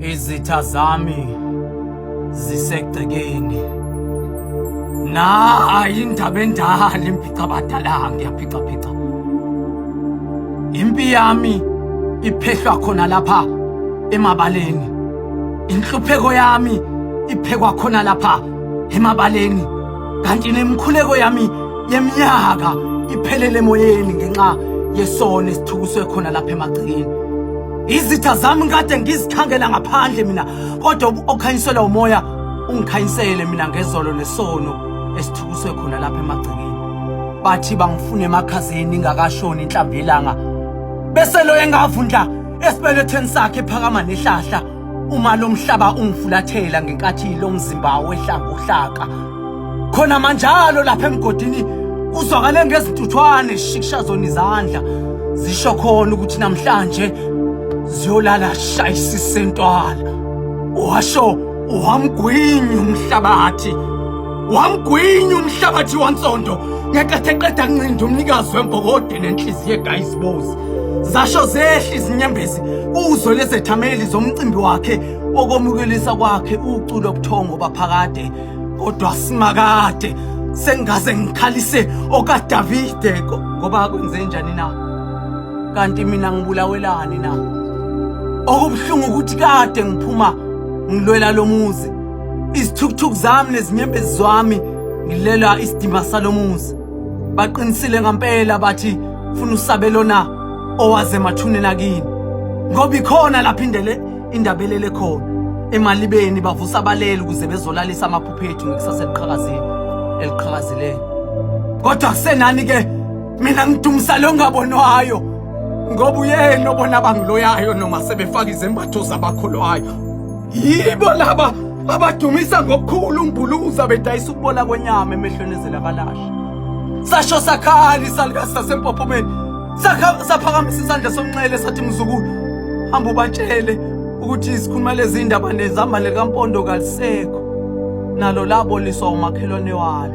Izitha zami zisegcekeni. Na ayindaba endala imphica badala ngiyaphica phica. Impi yami iphehlwa khona lapha emabaleni. Inhlupheko yami iphekwa khona lapha emabaleni. kanti nemikhuleko yami yeminyaka iphelele emoyeni ngenxa yesona esithukuswe khona lapha emagcekeni izitha zami kade ngizikhangela ngaphandle mina kodwa okhanyiselwa umoya ungikhanyisele mina ngezolo nesono esithukuswe khona lapha emagcekeni bathi bangifuna emakhazeni ingakashoni inhlambelanga bese lo engavundla esibelethweni sakhe phakama nehlahla Uma lo mhlaba ungifulathela ngenkathi lo mzimba wehlanga uhlaka khona manjalo lapha emgodini uzwakale ngezintuthwane zishikishazona izandla zisho khona ukuthi namhlanje ziyolala shayisise ntwala washo wamgwinyi umhlabathi wamgwinyi umhlabathi wansondo ngenkathi eqeda kuncinda umnikazi wembokode nenhliziyo egayizibozi Zasho zehla izinyembezi uzwe lezethameli zomcimbi wakhe okomukelisa kwakhe uculo obuthongo baphakade kodwa simakade sengaze ngikhalise okaDavide ngoba kwenze njani na kanti mina ngibulawelani na okubuhlungu ukuthi kade ngiphuma ngilwela lomuzi isithukuthuku zami nezinyembezi zami ngilela isidima salomuzi baqinisile ngampela bathi funa usabelo na owaze emathuneni akini ngoba ikhona lapha indele indaba elele khona emalibeni bavusa abaleli ukuze bezolalisa amaphupho ethu ngekusasa eliqhakazile eliqhakazileyo kodwa kusenani ke mina ngidumisa lo ngabonwayo ngoba uyena obona bangiloyayo noma sebefaka izembatho zabakholwayo yibo laba abadumisa ngokukhulu umbuluza bedayisa ukubola kwenyama emehlweni ezelakalasha sasho sakhali salikazi sasempophomeni saphakamisa isandla somnxele sathi mzukulu hamba ubatshele ukuthi izikhuluma lezi ndaba nezambane likampondo kalisekho nalo laboliswa umakhelwane walo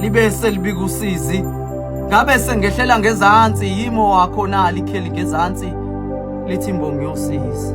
libe selibika usizi ngabe sengehlela ngezansi yimo wakho na likheli ngezansi lithi mbongi yosizi